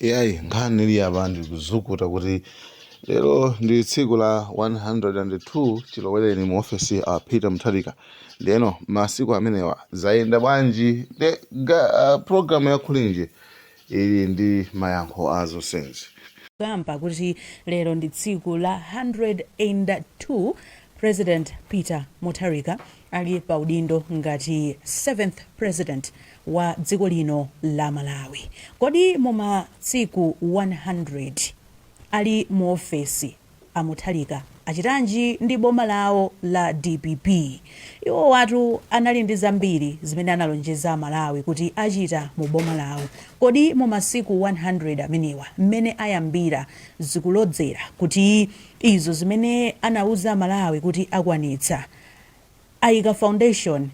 Iyayi, nkhani ili apa ndikuzukuta kuti lero ndi tsiku la 102 chilowereni mu ofesi a Peter Mutharika. Ndeno masiku amenewa zayenda bwanji? Nde, uh, program ya Kulinji ili ndi mayankho a zonsenzi. Kamba kuti lero ndi tsiku la 102 President Peter Mutharika ali pa udindo ngati 7th president wa dziko lino la Malawi. Kodi mu masiku 100 ali mu ofesi a Mutharika achitanji ndi boma lawo la dpp? Iwowatu anali ndi zambiri zimene analonjeza a Malawi kuti achita mu boma lawo. Kodi mu masiku 100 amenewa mmene ayambira zikulodzera kuti izo zimene anauza a Malawi kuti akwanitsa ayika foundation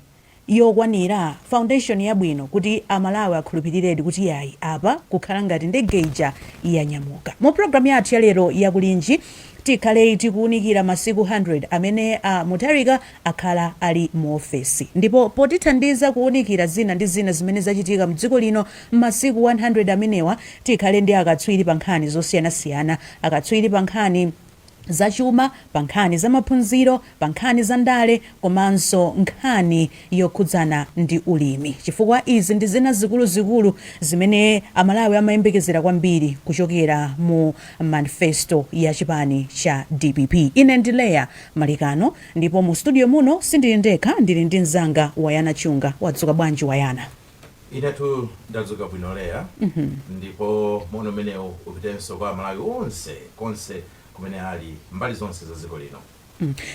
yokwanira, foundation yabwino kuti a Malawi akhulupiliredi kuti yayi apa kukhala ngati ndege ija yanyamuka. Mu program yathu ya lero ya kulinji, tikhale tikuunikira masiku 100 amene a Mutharika akhala ali mu ofesi. Ndipo potithandiza kuunikira zina ndi zina zimene zachitika mdziko lino mmasiku 100 amenewa, tikhale ndi akatswiri pa nkhani zosiyanasiyana, akatswiri pa nkhani zachuma, pa nkhani zamaphunziro, pa nkhani za ndale komanso nkhani yokhudzana ndi ulimi chifukwa izi ndi zina zikuluzikulu zimene Amalawi amayembekezera kwambiri kuchokera mu manifesto ya chipani cha dpp. Ine ndi Leah Malekano ndipo mu studio muno sindili ndekha ndili ndi mzanga Wayana Chunga. Wadzuka bwanji Wayana? Inetu ndadzuka bwino Leah ndipo moni umenewu upitenso kwa amalawi onse konse kumene ali mbali zonse za dziko lino.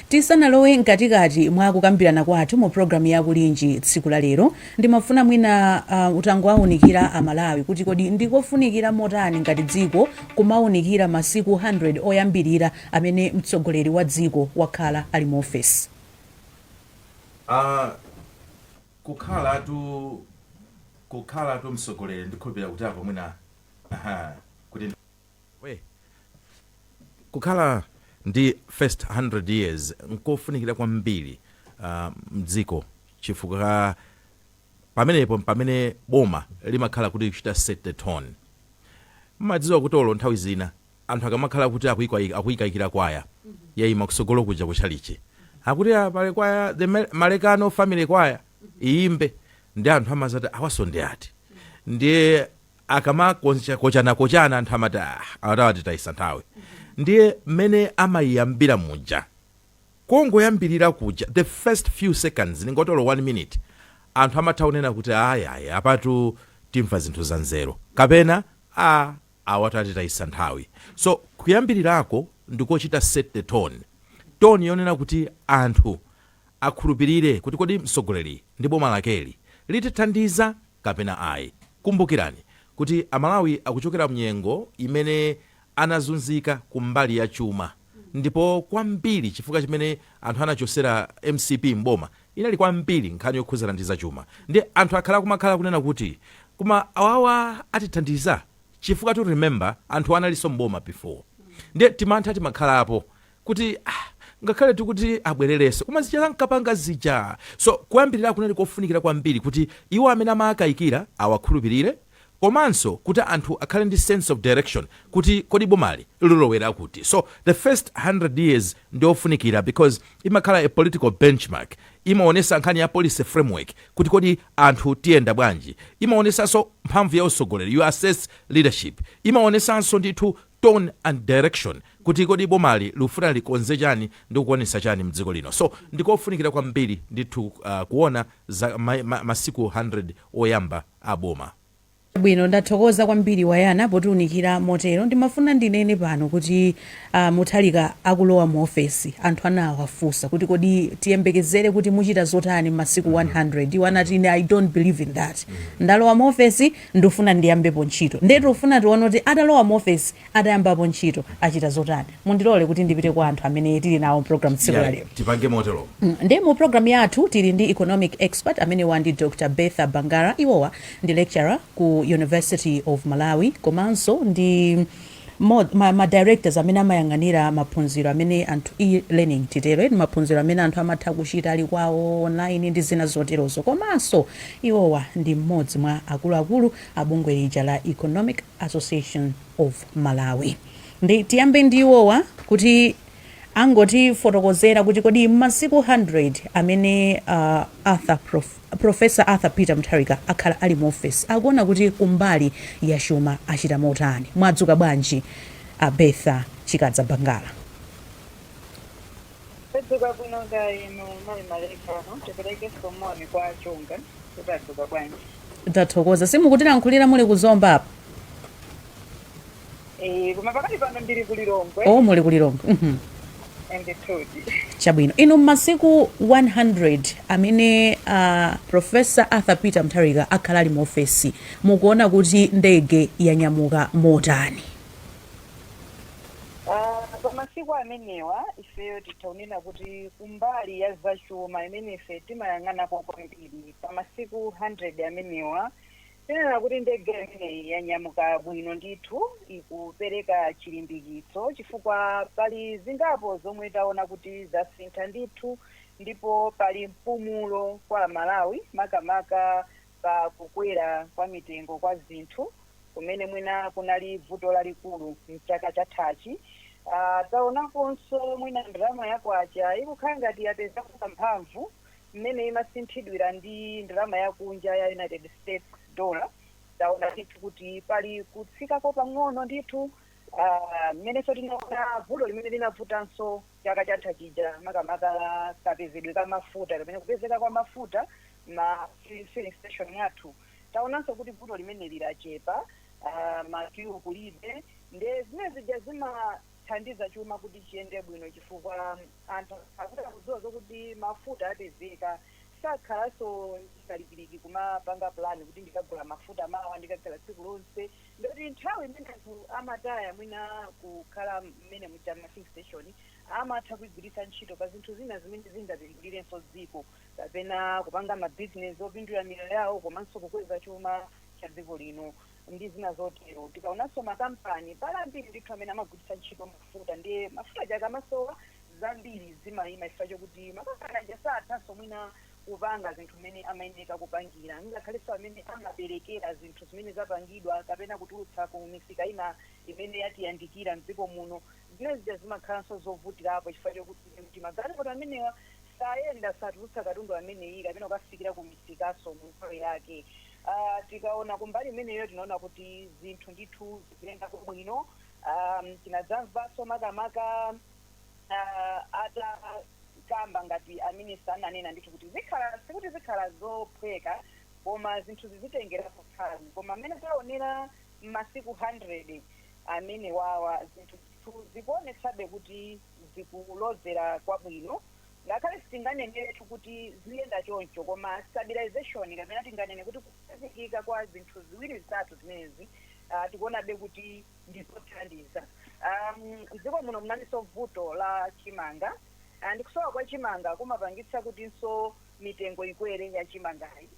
Tisanalowe mkatikati mwa kukambirana kwathu mu program ya Kulinji tsiku la lero, ndimafuna mwina uh, utangowaunikira a Malawi kuti kodi ndikofunikira motani ngati dziko kumaunikira masiku 100 oyambirira amene mtsogoleri wa dziko wakhala ali mu ofesi. Uh, kukhalatu kukhalatu mtsogoleri ndikhulupilira kuti apo mwina aha kuti ndi. we. Kukhala ndi first 100 years nkofunikira kwambiri ah, mdziko chifukwa pamenepo mpamene boma limakhala kuti kuchita set the tone. Mmadziwa kuti olo nthawi zina anthu akamakhala kuti akuikwayi- akuikaikira kwaya yaima kusogolo kuja ku chalichi akuti "Ah, pali kwaya the Ma- malekano family kwaya iyimbe ndi anthu amadzati awaso ndi ati ndiye akamakochanakochana anthu amati "Ah, awa atitayisa nthawi ndiye mmene amayiyambira muja kongoyambirira kuja the first few seconds mwina olo 1 minute anthu amatha kunena kuti ayayi apatu timva zinthu za nzeru kapena a awa tatitayisa nthawi so kuyambilirako ndikochita set the tone tone yonena kuti anthu akhulupilire kuti kodi mtsogoleri ndi boma lakeli litithandiza kapena ayi kumbukirani kuti amalawi akuchokera mnyengo imene anazunzika kumbali ya chuma ndipo kwambiri chifukwa chimene anthu anachosera mcp m'boma inali kwambiri nkhani yokhudzana ndi zachuma nde anthu akhala akumakhala kunena kuti koma awawa atithandiza chifukwatu remember anthuwa analinso m'boma before nde timantha timakhalapo kuti ah ngakhale tikuti abwererenso koma zija ankapanga zija so kuyambirira kunali kofunikira kwambiri kuti iwo amene amaakaikira awakhulupirire komanso kuti anthu akhale ndi sense of direction kuti kodi bomali lilowera kuti so the first 100 years ndiofunikira because imakhala a political benchmark imaonesa nkhani ya policy framework kuti kodi anthu tiyenda bwanji imaonesaso mphamvu ya usogoleri you assess leadership imaonesanso ndithu tone and direction kuti kodi bomali likufuna likonze chani ndi kukwanisa chani mdziko lino so ndikofunikira kwambiri ndithu uh, kuona za ma, ma, masiku 100 oyamba a boma. Chabwino, ndathokoza kwambiri Wayana potiunikira motero. Ndimafuna ndinene pano kuti a Mutharika akulowa mu ofesi, anthu anawafunsa kuti kodi tiyembekezere kuti muchita zotani m'masiku 100, iwo anati ine I don't believe in that. Ndalowa mu ofesi, ndufuna ndiyambepo ntchito. Ndiye tikufuna tione kuti atalowa mu ofesi atayambapo ntchito? Achita zotani? Mundilole kuti ndipite kwa anthu amene tili nawo m'programu tsiku lalero. Iyayi, tipange moteromo. Mm, Ndiye mu programu yathu tili ndi economic expert amenewa ndi Dr Bertha Bangala. Iwowa ndi lecturer ku University of Malawi komanso ndi mo- ma, ma directors amene amayang'anira maphunziro amene anthu e-learning titero eti maphunziro amene anthu amatha kuchita ali kwawo online ndi zina zoterozo komanso iwowa ndi mmodzi mwa akuluakulu a bungwe lija la Economic Association of Malawi. Nde tiyambe ndi iwowa kuti angotifotokozera kuti kodi m'masiku 100 amene uh, Arthur Prof, Professor Arthur Peter Mutharika akhala ali mu office akuona kuti kumbali ya chuma achita motani. Mwadzuka bwanji a Bertha Chikadza Bangala? Tadzuka bwino ine mayi Malekano tiperekenso moni kwa achunga kuti tadzuka bwanji. tathokoza simukutilankhulira muli ku zomba apa Eh, koma pakati pano ndili ku Lilongwe o muli ku lilongwe Mhm. Ndithudi. chabwino inu m'masiku 100 amene uh, profesa arthur peter mutharika akhala ali mu ofesi mukuona kuti ndege yanyamuka motani Ah, pa masiku amenewa ifeyo titha kunena kuti kumbali ya zachuma imene ife timayang'anapo kwambiri pa masiku 100 amenewa tinena kuti ndege imeneyi yanyamuka bwino ndithu ikupereka chilimbikitso chifukwa pali zingapo zomwe taona kuti zasintha ndithu ndipo pali mpumulo kwa amalawi makamaka pa kukwera kwa mitengo kwa zinthu kumene mwina kunali vuto lalikulu mchaka chathachi uh, taonakonso mwina ndalama ya kwacha ikukhala ngati yapezako kamphamvu mmene imasinthidwira ndi ndalama yakunja ya united states dollar taona ndithu kuti pali kutsikako pang'ono ndithu ah, mmenenso tinaona vuto limene linavutanso chaka chatha chija makamaka kapezedwe ka mafuta kapena kupezeka kwa mafuta ma fi- filling station mwathu taonanso kuti vuto limeneli lachepa ah, makiwu kulibe nde zimene zija zimathandiza chuma kuti chiyende bwino chifukwa anthu akuti akudziwa zokuti mafuta apezeka sakhalanso ndi kalikiliki kumapanga pulani kuti ndikagula mafuta mawa ndikagula tsiku lonse Ndoti nthawi imene anthu amataya mwina kukhala m'menemuja ma filling station amatha kuigwiritsa ntchito pa zinthu zina zimene zingapindulirenso dziko kapena kupanga ma business opindulira miyoyo yawo komanso kukweza chuma cha dziko lino ndi zina zotero. Tikaonanso makampani, pali ambiri ndithu amene amagwiritsa ntchito mafuta ndiye mafuta aja akamasowa zambiri zimaima chifukwa chokuti makampani aja sathanso mwina kupanga zinthu mmene amayenereka kupangira, ngakhalenso amene amaberekera zinthu zimene zapangidwa kapena kutulutsa ku misika ina imene yatiyandikira m'dziko muno, zimene zija zimakhalanso zovutirapo chifukwa chokuti magalimoto amenewa sayenda, satulutsa katundu ameneyi kapena kukafikira ku misikanso mu nthawi yake. Tikaona kumbali imeneyo tinaona kuti zinthu ndithu zikuyendako bwino. Tinadzamvanso makamaka. uh, atakamba ngati aminista ananena ndithu kuti zikhala sikuti zikhala zophweka koma zinthu zizitengerako nthawi koma mmene taonera m'masiku 100 amenewawa zinthu ndithu zikuonetsabe kuti zikulozera kwabwino ngakhale sitinganeneretu kuti ziyenda choncho koma stabilization kapena tinganene kuti kukhazikika kwa zinthu ziwiri zitatu zimenezi uh, tikuonabe kuti ndi zothandiza. Um, mdziko muno munalinso vuto la chimanga Ah, ndi kusowa kwa chimanga kumapangitsa kutinso mitengo ikwere ya chimangayi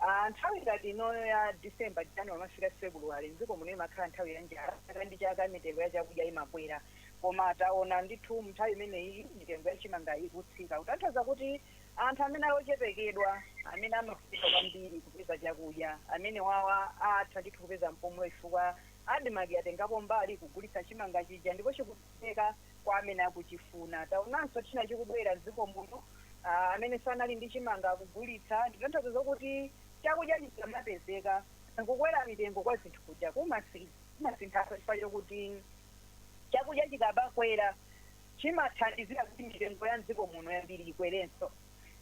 Ah, nthawi ngati inoyo ya december january mafika february mdziko muno imakhala nthawi ya njala chaka ndi chaka mitengo ya chakudya imakwera koma taona ndithu mnthawi imeneyi mitengo ya chimanga ikutsika kutanthauza kuti anthu amene ali ochepekedwa amene amafunika kwambiri kupeza chakudya amene wawa atha ndithu kupeza mpumulo chifukwa Admarc yatengapo mbali kugulitsa chimanga chija ndipo chikupeleka kwa amene akuchifuna. Taonanso china chikubwera m'dziko muno, aah amene anali ndi chimanga akugulitsa, nditanthauza zokuti chakudya chikamapezeka, kukwera mitengo kwa zinthu kuja kumasinthanso chifukwa chokuti chakudya chikamakwera chimathandizira kuti mitengo ya m'dziko muno yambiri ikwerenso.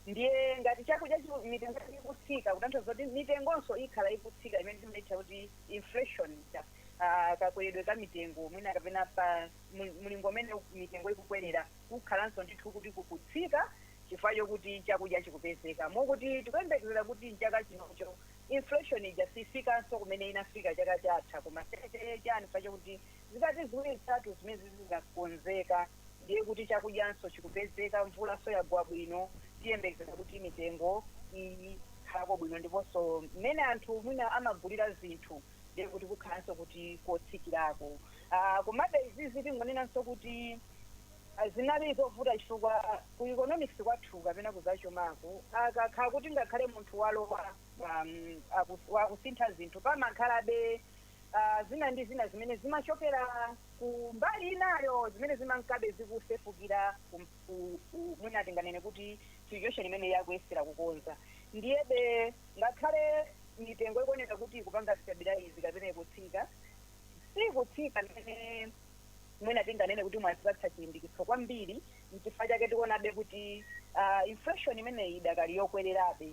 ndiye ngati chakudya chiku- mitengo yake ikutsika kutanthauza kuti mitengonso ikhala ikutsika imene timaitcha kuti inflation ija ah, kakweredwe ka mitengo mwina kapena pa mul- mlingo umene mitengo ikukwerera kukhalanso ndithu kuti kukutsika chifukwa chokuti chakudya chikupezeka mokuti tikuyembekezera kuti mchaka chinocho inflation ija sifikanso kumene inafika chaka chatha koma chaka chachani chifukwa chokuti Zikati ziwiri zitatu zimenezi zizakonzeka ndiye kuti chakudyanso chikupezeka mvulanso yagwa bwino tiyembekezera kuti mitengo ikhalako bwino ndiponso mmene anthu mwina amagulira zinthu ndiye kuti kukhalanso kuti kotsikirako aah komabe izizi tingonenanso kuti zinali zovuta chifukwa ku economics kwathu kapena kuzachumaku kukakhala kuti ngakhale munthu walowa aah akusintha zinthu pamakhalabe ah, zina ndi zina zimene zimachokera ku mbali inayo zimene zimankabe zikusefukira ku- ku- ku- mwina tinganene kuti situation imene akuyesera kukonza ndiyebe ngakhale mitengo ikuoneka kuti ikupanga stabilize kapena ikutsika sikutsika mmene mwina tinganene kuti mwazipatsa chilimbikitso kwambiri nchifukwa chake tikuonabe kuti ah, inflation imeneyi idakali yokwererabe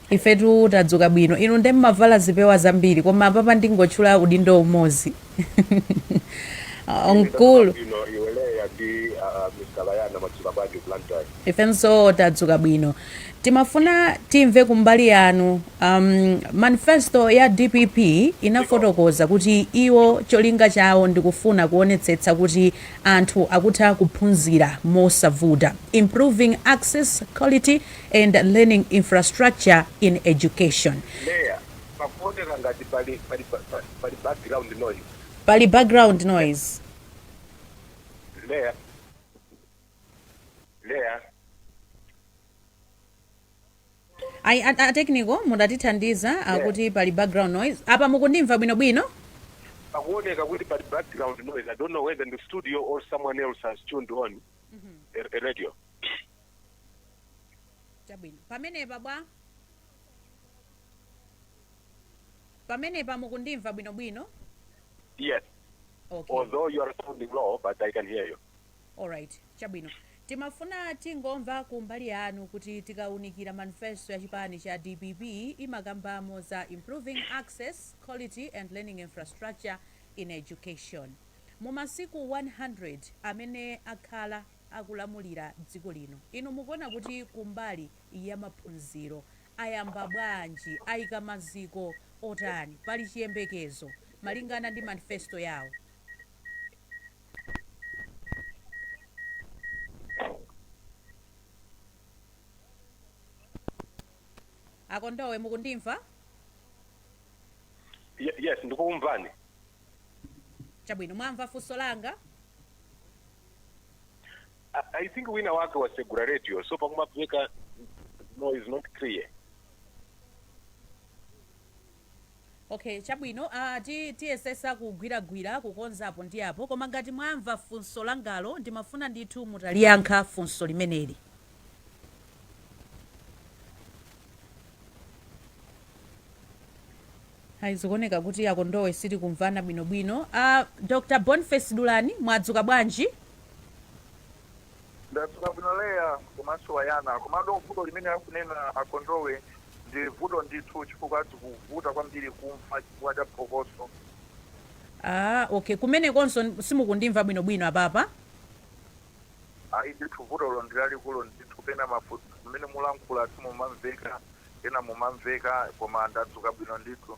Ifetu tadzuka bwino inu nde mmavala zipewa zambiri koma apapa ndingotchula udindo umodzi Ine ndadzuka mkulu bwino iwe Leah ndi uh, Mr Layana mwadzuka bwanji ku Blantyre? ifenso tadzuka bwino timafuna timve kumbali yanu um, manifesto ya dpp inafotokoza kuti iwo cholinga chawo ndikufuna kuonetsetsa kuti anthu akutha kuphunzira mosavuta improving access quality and learning infrastructure in education. Mayor, pakuoneka ngati pali pali pa- pa- pali background noise. Pali background noise. Mayor. Mayor. Ayi a, a technical mudatithandiza akuti pali background noise. Apa mukundimva bwino bwino? Pakuoneka kuti pali background noise. I don't know whether in the studio or someone else has tuned on a, a radio. chabwino pamenepa bwanji pamenepa mukundimva bwinobwino Yes, okay although you are sounding low, but I can hear you. alright chabwino timafuna tingomva ku mbali yanu kuti tikaunikira manifesto ya chipani cha dpp imakambamo za improving access quality and learning infrastructure in education mu masiku 100 amene akhala akulamulira dziko lino. Inu mukuona kuti kumbali ya maphunziro ayamba bwanji? Aika maziko otani? Pali chiyembekezo malingana ndi manifesto yawo? A Kondowe mukundimva? Ye- yes ndikumvani chabwino mwamva funso langa I, I think wina wake wasegura radio so pakumveka noise not clear okay chabwino uh, ti, tiyesesa kugwiragwira kukonzapo ndi apo koma ngati mwamva funso langalo ndimafuna ndithu mutaliyankha funso limeneli Ayi zikuoneka kuti a Kondowe sitikumvana bwinobwino. A Dr. Boniface Dulani mwadzuka bwanji? Ndadzuka bwino Leah komanso Wayana. Komano vuto limene akunena a Kondowe ndi vuto ndithu chifukwa zikuvuta kwambiri kumva chifukwa cha phokoso. Aaa okay, kumenekonso simukundimva bwinobwino apapa? Ayi ndithu vutolo ndi lalikulu ndithu pena mafunso mmene mulankhula simumamveka pena mumamveka koma ndadzuka bwino ndithu.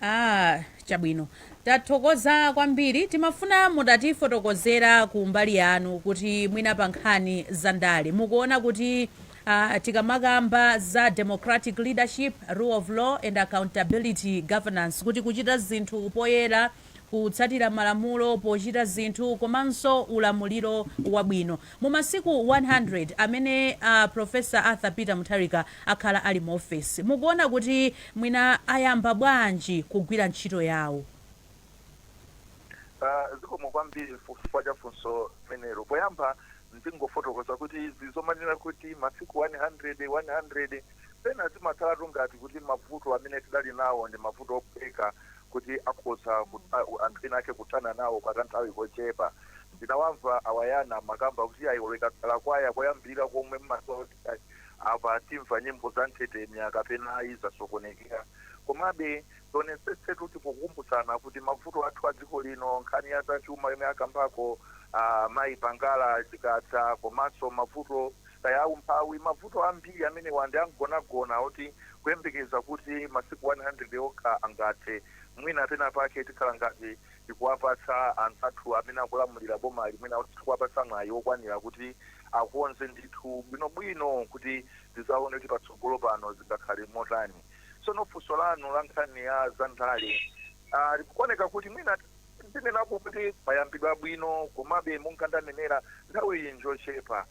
Ah, chabwino. Tathokoza kwambiri. Timafuna mutatifotokozera ku mbali yanu kuti mwina pa nkhani za ndale mukuona kuti ah, tikamakamba za democratic leadership, rule of law and accountability governance kuti kuchita zinthu poyera kutsatira malamulo pochita zinthu komanso ulamuliro wabwino. Mu masiku 100 amene a Professor Arthur Peter Mutharika akhala ali mu ofesi, mukuona kuti mwina ayamba bwanji kugwira ntchito yawo? Zikomo kwambiri chifukwa cha funso limenelo. Poyamba ndingofotokoza kuti izi zomanena kuti masiku 100, 100, pena zimakhalatu ngati kuti mavuto amene tidali nawo ndi mavuto ophweka kuti akhoza kutha anthu ena ake kuthana nawo kwa kanthawi kochepa. Ndinawamva a Wayana amakamba kuti iyayi olo ikakhala kwaya koyambirira komwe mmadziwa kuti iyayi apa timva nyimbo za nthetemya kapena ayi yasokonekera. Komabe tionetsetsetu kuti pokumbutsana kuti mavuto athu a dziko lino, nkhani ya zachuma yomwe akambako a mayi Pangala, Chikadza komanso mavuto kaya a umphawi, mavuto ambiri amenewa ndi amgonagona oti kuyembekeza kuti masiku 100 okha angathe, mwina pena pake tikhala ngati tikuwapatsa anzathu amene akulamulira bomali, mwina sitikuwapatsa mwayi wokwanira kuti akonze zinthu bwinobwino kuti tidzaone kuti patsogolo pano zingakhale motani. Tsono funso lanu la nkhani ya zandale, aa, zikuoneka kuti mwina. Ndinenapo kuti payambidwa bwino komabe monga ndanenera nthawiyi njochepa.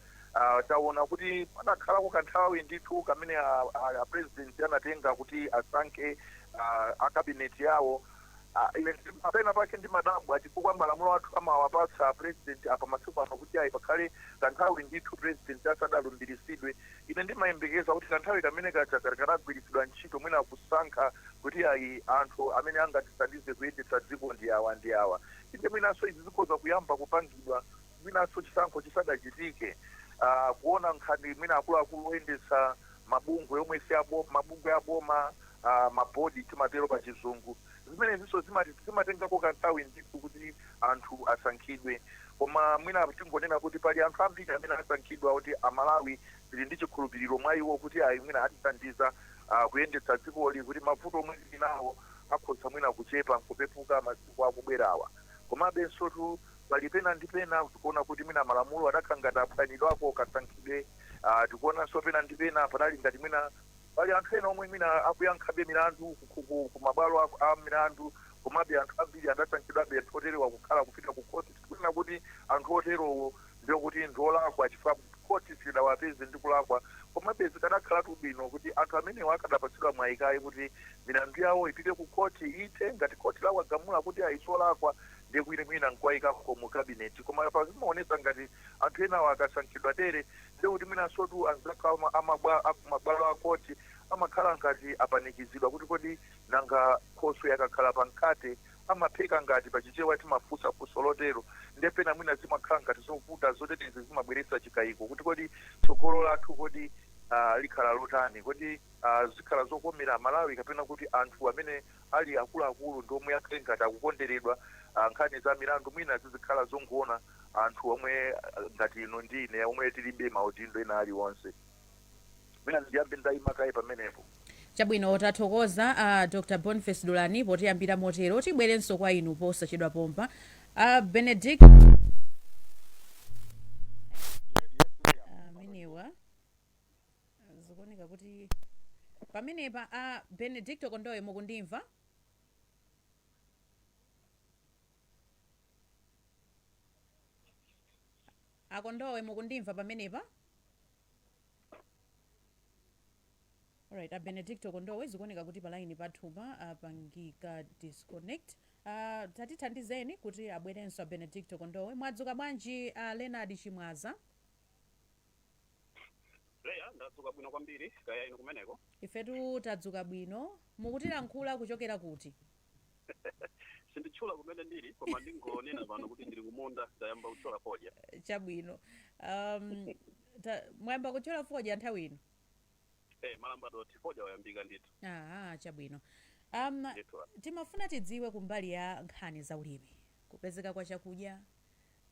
Tawona kuti panakhalako kanthawi ndithu kamene a Purezidenti anatenga kuti asankhe Kabineti yawo. Ine pena pake ndimadabwa chifukwa malamulo athu amawapatsa a Purezidenti apa masiku angapo kuti ayi pakhale kanthawi ndithu Purezidenti asadalumbiritsidwe. Ine ndimayembekeza kuti kanthawi kamene kaja kakanagwiritsidwa ntchito, mwina kusankha kuti, Ayi, anthu amene angatithandize kuyendetsa dziko ndi awa ndi awa. Inde, mwinanso izi zikhoza kuyamba kupangidwa mwinanso chisankho chisadachitike, kuona nkhani mwina akuluakulu oyendetsa mabungwe omwe si aboma, mabungwe aboma, ma board timatero pachizungu. Zimenezinso zimatengako kanthawi ndithu kuti anthu asankhidwe. Koma mwina tingonena kuti pali anthu ambiri amene asankhidwa oti Amalawi tili ndi chikhulupiriro mwa iwo kuti ayi mwina atithandiza kuyendetsa dzikoli kuti mavuto omwe tili nawo akhoza mwina kuchepa n'kupepuka masiku akubwerawa. Komabensotu pali pena ndi pena tikuona kuti mwina malamulo adakhala ngati aphwanyidwako kasankhidwe. Tikuonanso pena ndi pena panali ngati mwina. Pali anthu ena omwe mwina akuyankhabe milandu ku mabwalo a milandu komabe anthu ambiri anasankhidwabe. Anthu oterewa kukhala kupita ku khoti sikunena kuti anthu oterowo ndiye kuti ndi olakwa chifukwa khoti silidawapeze ndi kulakwa. Komabe zikadakhalatu bwino kuti anthu amenewa akadapatsidwa mwayi kaye kuti milandu yawo ipite ku khoti, ithe. Ngati khoti lawagamula kuti ayi si olakwa ndiye kuti mwina n'kuwaikako mu cabinet. Koma apa zimaonetsa ngati anthu enawa akasankhidwa tere Ndiye kuti mwinansotu anzathu a ma, a mabwa, a ku mabwalo a court amakhala ngati apanikizidwa kuti kodi nanga Khoswe akakhala pa mkhate amapheka ngati? Pa Chichewa timafunsa funso lotero. Ndiye pena mwina zimakhala ngati zovuta zoterezi zimabweretsa chikaiko kuti kodi tsogolo lathu kodi aah likhala lotani? Kodi aah zikhala zokomera Amalawi kapena kuti anthu amene ali akuluakulu ndi omwe akhale ngati akukonderedwa aah nkhani za milandu mwina zizikhala zongoona. anthu omwe ah, ngati inu ndi ine omwe tilibe maudindo ena aliwonse mwina ndiyambe ndayima kaye pamenepo chabwino tathokoza a dr boniface dulani potiyambira motero tibwerenso kwa inu posachedwa pompa a benedict amenewa zikuoneka kuti pamenepa a benedicto kondowe mukundimva akondowe mukundimva pamenepa Alright, a Benedicto Kondowe zikuoneka kuti palaini pathupa apangika disconnect. Uh, tatithandizeni kuti abwerenso a Benedicto Kondowe. Mwadzuka bwanji a uh, Leonard Chimwaza? leya ndadzuka bwino kwambiri kaya inu kumeneko Ifetu tadzuka bwino. Mukutilankhula kuchokera kuti? sinditchula kumene ndili koma ndingonena pano kuti ndili kumunda ndayamba kutchola fodya chabwino um, ta, mwayamba kutchola fodya nthawi ino eh m'madambo fodya wayambika ndithu aha chabwino um, ndithu timafuna tidziwe kumbali ya nkhani za ulimi kupezeka kwa chakudya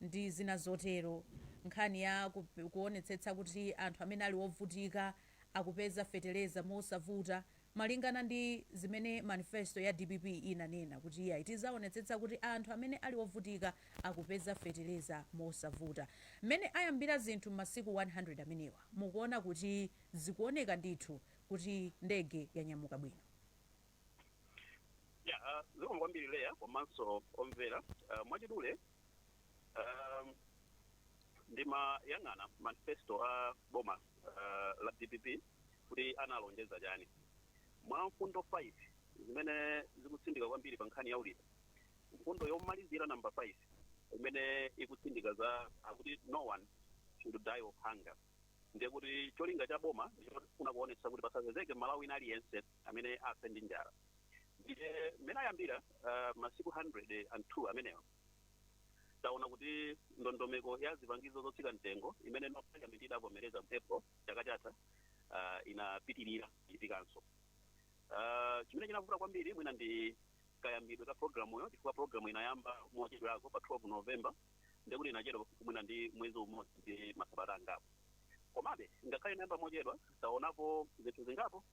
ndi zina zotero nkhani ya ku- kuonetsetsa kuti anthu amene ali ovutika akupeza fetereza mosavuta Malingana ndi zimene manifesto ya dpp inanena kuti iyayi tizaonetsetsa kuti anthu amene ali ovutika akupeza fetereza mosavuta. Mmene ayambira zinthu mmasiku 100 amenewa mukuona kuti zikuoneka ndithu kuti ndege yanyamuka bwino. Yeah zikomo kwambiri Leah komanso omvera mwachidule ndimayang'ana manifesto a boma la dpp. kuti analonjeza chani. Mwa mfundo 5 zimene zikutsindika kwambiri pa nkhani ya ulimi, mfundo yomalizira, number 5, imene ikutsindika za akuti no one should die of hunger ndiye kuti cholinga cha boma ndichofuna kuonetsetsa kuti pasapezeke mmalawi wina aliyense amene afe ndi njala ndiye mmene ayambira uh, masiku 102 amenewo taona kuti ndondomeko ya zipangizo zotsika mtengo imene parliament idavomereza mu april chaka chatha ah, inapitirira kuchitikanso Ah, chimene chinavuta kwambiri mwina ndi kayambidwe ka programuyo chifukwa programu inayamba mochedwerako pa 12 november ndekuti inachedwa mwina ndi mwezi umodzi ndi masabata angapo komabe ngakhale inayamba mochedwa taonapo zinthu zingapo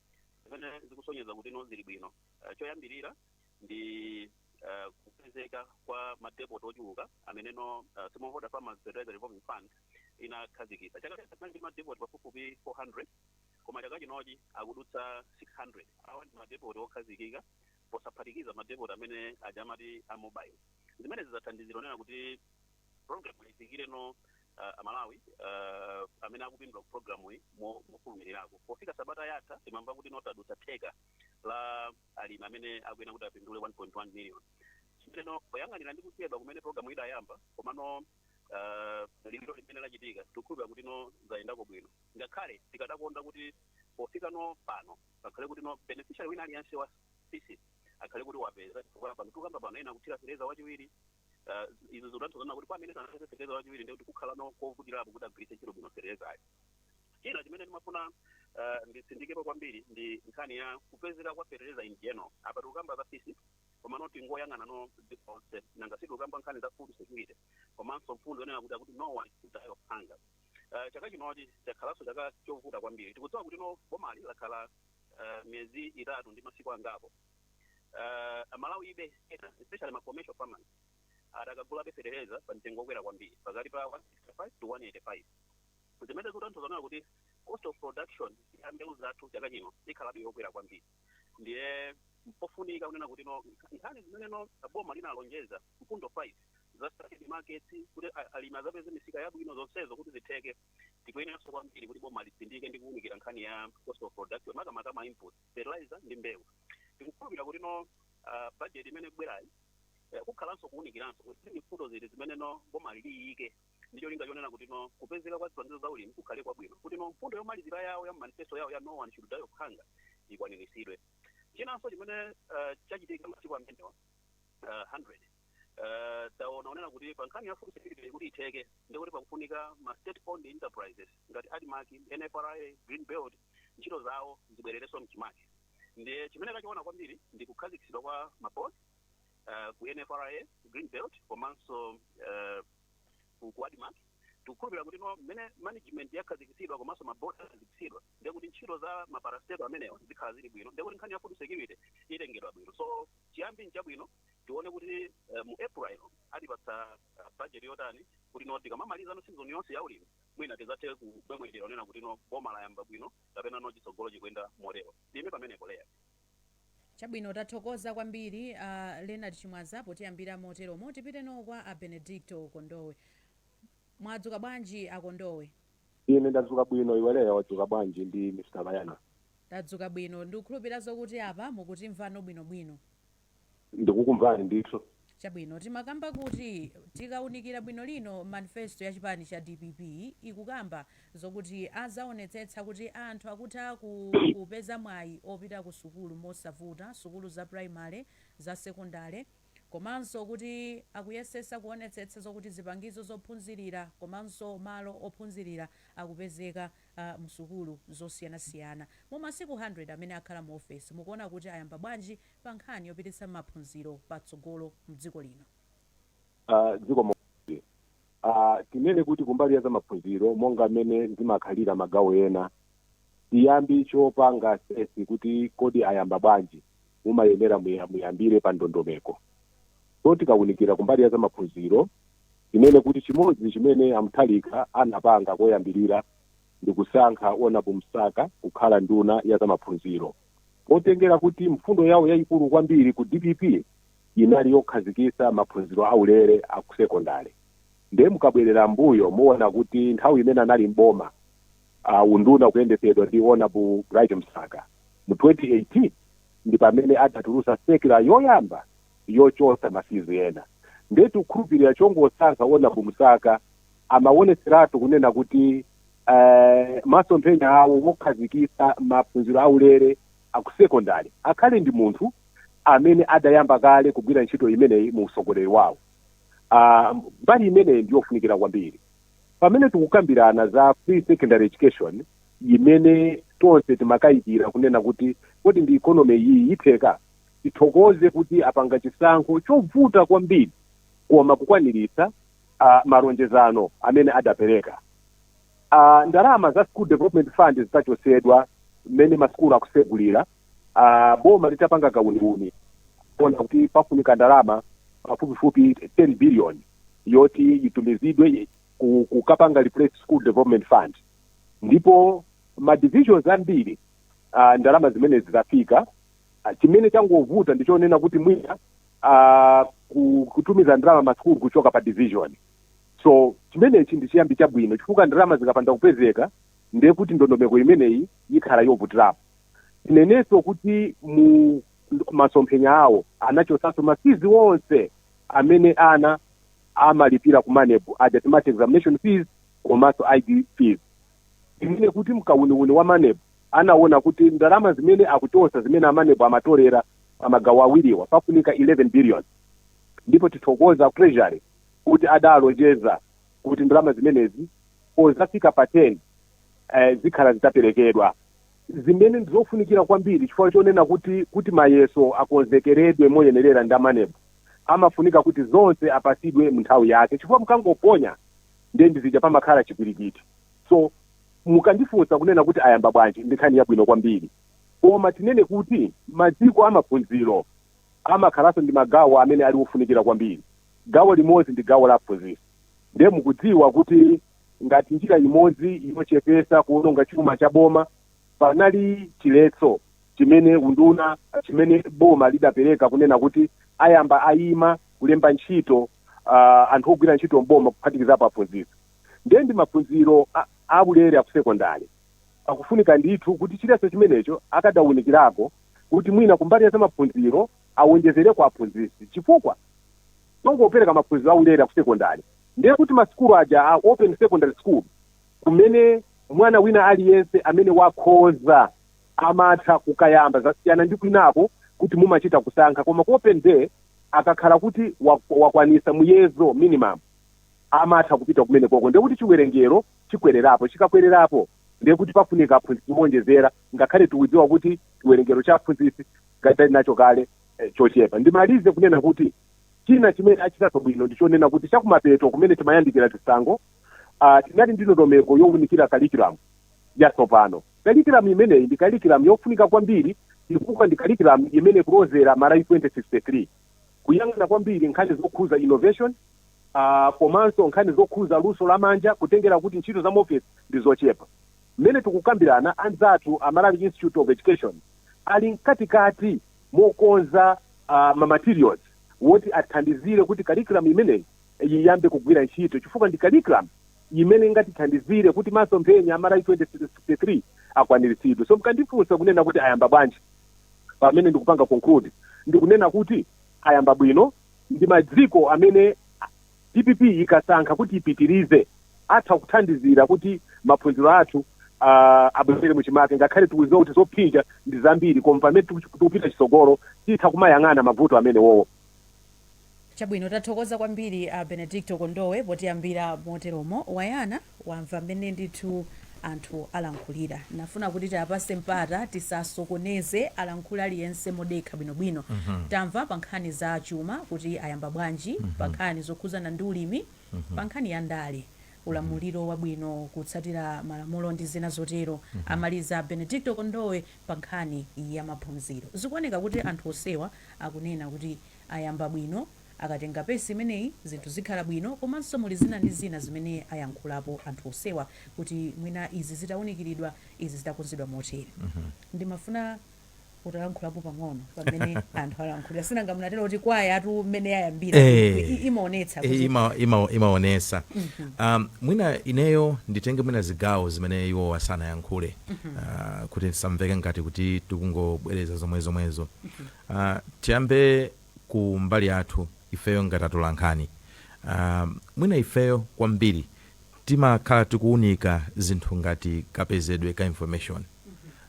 zimene zikusonyeza kuti no zili bwino Ah, choyambirira ndi eh, kupezeka kwa madepoti ochuluka ameneno eh, smallholder farmers fertilizer revolving fund inakhazikitsa chaka chatha ndi madepoti pafupifupi 400 koma chaka chinochi akudutsa 600 awa ndi madepoti okhazikika posaphatikiza madepoti amene aja amati a mobile zimene zidzathandizira ponena kuti program ifikire no uh, amalawi uh, amene akupindula mu program iyi mo- mofulumirirako pofika sabata yatha timamva kuti no tadutsa theka la alimi amene akuyenera kuti apindule 1.1 million chimeno poyang'anira ndi kuchedwa kumene programu idayamba komano uh, liwiro limene lachitika tikukhulupira kuti no zayendako bwino ngakhale tikadakonda kuti pofika no pano pakhale kuti no beneficiary wina aliyense wa FISP akhale kuti wapeza chifukwa pano tikukamba pano ena akuthira feteleza wachiwiri uh, izo zikutanthauza kuti kwa amene sanapeze feteleza wachiwiri ndikuti kukhala no kovutirapo kuti agwiritse ntchito bwino fetelezayo china chimene ndimafuna uh, nditsindikepo kwambiri ndi nkhani ya kupezeka kwa fertilizer in general apa tikukamba za FISP komano tingoyang'ana no dziko lonse nanga sitikukamba nkhani za food security komanso mfundo yonena kuti akuti no one should die of hunger uh, chaka chinochi chakhalanso chaka chovuta kwambiri tikudziwa kuti no bomali lakhala uh, miyezi itatu ndi masiku angapo uh, amalawibe ena especially ma commercial farmers adakagulabe fertilizer pa mtengo wokwera kwambiri pakati pa 165 to 185 zimene zikutanthauza kunena kuti cost of production ya mbewu zathu chaka chino ikhalabe yokwera kwambiri ndiye mpofunika kunena kuti no nkha- nkhani zimene no boma linalonjeza mfundo 5 za strategic markets kuti a- alimi azapeze misika yabwino zonsezo kuti zitheke tikuyeneranso kwambiri kuti boma litsindike ndi kuwunikira nkhani ya cost of production makamaka ma input fertilizer ndi mbewu tikukhulupirira kuti no ah, budget imene ikubwerayi eh, kukhalanso kuwunikiranso kuti ndi mfundo ziti zimene no boma liyike ndi cholinga chonena kuti no kupezeka kwa zipangizo za ulimi kukhale kwabwino kuti no mfundo yomalizira yawo ya manifesto yawo ya no one should die of hunger ikwaniritsidwe chinanso chimene eh, chachitika masiku amenewa uh, 100 uh, taona kunena kuti pa nkhani ya food security kuti itheke ndikuti pakufunika ma state owned enterprises ngati admarc nfra green belt ntchito zawo zibwererenso mchimake ndiye chimene tachiona kwambiri ndi kukhazikitsidwa kwa maboard uh, ku nfra green belt komanso uh, ku ku admarc tikukhulupirira kuti no mmene management yakhazikitsidwa komanso maboard akhazikitsidwa ndiye kuti ntchito za maparastato amenewa zikhala zili bwino ndiye kuti nkhani ya food security itengedwa bwino so chiyambi nchabwino tione kuti eh, mu april atipatsa eh, budget yotani kuti no tikamamaliza no season yonse ya ulimi mwina tizathe kumwemwetera kunena kuti no boma layamba bwino kapena no chitsogolo chikuyenda motero ndiime pamenepo leah Chabwino tathokoza kwambiri a Leonard Chimwaza potiyambira moteromo. Tipiteno kwa a Benedicto Kondowe. Mwadzuka bwanji a Kondowe? Ine ndadzuka bwino iwe Leah wadzuka bwanji ndi Mr Leonard? Tadzuka bwino. Ndikukhulupira zokuti apa mukutimvano bwinobwino. ndikukumvani ndithu. Chabwino, timakamba kuti tikaunikira bwino lino manifesto ya chipani cha dpp ikukamba zokuti azaonetsetsa kuti anthu akutha kupeza mwayi opita ku sukulu mosavuta, sukulu za primary, za sekondale komanso kuti akuyesesa kuonetsetsa zokuti zipangizo zophunzilira komanso malo ophunzilira akupezeka msukulu zosiyanasiyana. Mu masiku 100 amene akhala mu ofesi mukuona kuti ayamba bwanji pa nkhani yopititsa maphunziro patsogolo mdziko lino? Zikomo kwambiri. Tinene kuti kumbali ya zamaphunziro monga mmene zimakhalira magawo ena, chiyambi chopanga assess kuti kodi ayamba bwanji mumayenera muya muyambire pa ndondomeko. So tikawunikira kumbali ya zamaphunziro tinene kuti chimodzi chimene a Mutharika anapanga koyambirira ndikusankha Hon. Msaka kukhala nduna ya zamaphunziro. potengera kuti mfundo yawo yayikulu kwambiri ku dpp inali yokhazikitsa maphunziro aulele a ku sekondale. Nde mukabwelera m'mbuyo muona kuti nthawi imene anali m'boma uh, unduna ukuyendetsedwa ndi Honorable Bright Msaka mu 2018 ndi pamene adatulutsa circular yoyamba yochotsa ma fees ena nde tikukhulupilira chongosankha Hon Msaka amawonetseratu kunena kuti eeh masomphenya awo wokhazikitsa maphunziro a ulele aku secondary akhale ndi munthu amene adayamba kale kugwira ntchito imeneyi mu utsogoleri wawo aah mbali imeneyi ndiyofunikira kwambiri pamene tikukambirana za free secondary education imene tonse timakayikira kunena kuti kodi ndi economy iyi yitheka? tithokoze kuti apanga chisankho chovuta kwambiri koma kukwaniritsa a malonjezano amene adapereka. a Ndalama za School Development Fund zitachotsedwa mmene masukulu akusegulira, a boma litapanga kauniuni kuona kuti pafunika ndalama pafupifupi 10 billion yoti itumizidwe ku- kukapanga replace School Development Fund ndipo ma divisions ambiri ah, ndalama zimenezi zafika Ah, chimene changovuta ndi chonena kuti mwina ah, ku- kutumiza ndalama masukulu kuchoka pa division so chimenechi ndi chiyambi chabwino chifukwa ndalama zikapanda kupezeka ndiye kuti ndondomeko imeneyi ikhala yovutirapo tinenenso kuti mu masomphenya awo anachotsanso ma fees onse amene ana amalipira ku maneb aja timati examination fees komanso id fees zimene kuti mkauniuni wa maneb anawona kuti ndalama zimene akuchosa zimene amaneb amatolera pa magawo awiriwa pafunika 11 billion ndipo tithokoza treasury kuti adalonjeza kuti ndalama zimenezi pozafika pa 10 eh, zikhala zitaperekedwa zimene ndizofunikira kwambiri chifukwa chonena kuti kuti mayeso akonzekeredwe moyenerera ndi amaneb amafunika kuti zonse apasidwe munthawi yake chifukwa mkangoponya ndiye ndi zija pamakhala chipwirikiti. So, mukandifunsa kunena kuti ayamba bwanji, ndi nkhani yabwino kwambiri. Koma tinene kuti maziko a maphunziro amakhalanso ndi magawo amene ali ofunikira kwambiri. Gawo limodzi ndi gawo la aphunzitsi. Ndiye mukudziwa kuti ngati njira imodzi yochepetsa kuwononga chuma cha boma, panali chiletso chimene unduna, chimene boma lidapereka kunena kuti ayamba aima kulemba ntchito uh, anthu ogwira ntchito mboma kuphatikizapo aphunzitsi ndiye ndi maphunziro aulere akusekondari pakufunika ndithu kuti chiletso chimenecho akadaunikirako kuti mwina kumbali ya zamaphunziro awonjezereko aphunzitsi chifukwa tikangopereka maphunziro aulere akusekondari ndiye kuti masukulu aja a open secondary school kumene mwana wina aliyense amene wakhoza amatha kukayamba zasiyana ndi kwinako kuti mumachita kusankha koma ku open day akakhala kuti wa wakwanisa muyezo, minimum, amatha kupita kumenekoko ndiye kuti chiwerengero chikwererapo, chikakwererapo ndiye kuti pafunika aphunzitsi owonjezera ngakhale tikudziwa kuti chiwerengero cha aphunzitsi tili nacho kale chochepa. Ndimalize kunena kuti china chimene achitaso bwino ndi chonena kuti chakumapeto kumene timayandikira chisankho, uh, tinali ndi ndondomeko yowunikira curriculum yatsopano. Curriculum imeneyi ndi curriculum yofunika kwambiri chifukwa ndi curriculum imene ikulozera Malawi 2063, kuyang'ana kwambiri nkhani zokhuza innovation komanso nkhani zokhuza luso la manja kutengera kuti ntchito za muofesi ndi zochepa. Mmene tikukambirana, anzathu a Malawi Institute of Education ali mkatikati mokonza ma materials woti athandizire kuti curriculum imeneyi. yiyambe kugwira ntchito chifukwa ndi curriculum imene ingatithandizire kuti masomphenya a Malawi 2063 akwaniritsidwe. So mkandifunsa kunena kuti ayamba bwanji pamene ndikupanga conclude ndikunena kuti ayamba bwino ndi maziko amene dpp ikasankha kuti ipitirize atha kuthandizira kuti maphunziro athu ah, abwerere muchimake ngakhale tikuziwa kuti zophinja ndi zambiri koma pamene tiku- tikupita chisogolo titha kumayang'ana mavuto amenewowo Chabwino, tathokoza kwambiri a Benedicto Kondowe potiyambira moteromo. Wayana, wamva mmene ndithu anthu alankhulira. Ndinafuna kuti tiapase mpata tisasokoneze alankhule aliyense modekha bwino bwino. Tamva pa nkhani za chuma kuti ayamba bwanji, pa nkhani zokhuzana ndi ulimi, pa nkhani ya ndale, ulamuliro wabwino, kutsatira malamulo ndi zina zotero. Amaliza a Benedicto Kondowe pa nkhani ya maphunziro. Zikuoneka kuti anthu onsewa akunena kuti ayamba bwino, akatenga pace imeneyi zinthu zikhala bwino komanso muli zina ndi zina zimene ayankhulapo anthu onsewa kuti mwina izi zitaunikiridwa izi zitakonzedwa motere ndimafuna utalankhulapo pang'ono pa mmene anthu alankhulira sinanga munatero kuti kwayatu mmene yayambira Eh. i- i- imaonetsa kuti ima, ima, imaonesa um, mwina ineyo nditenge mwina zigawo zimene iwowa sanayankhule uh, kuti ndisamveke ngati kuti tikungobwereza zomwe zomwezo Uh, tiyambe ku mbali yathu ifeyo ngati atolankhani uh, mwina ifeyo kwambiri timakhala tikuwunika zinthu ngati kapezedwe ka information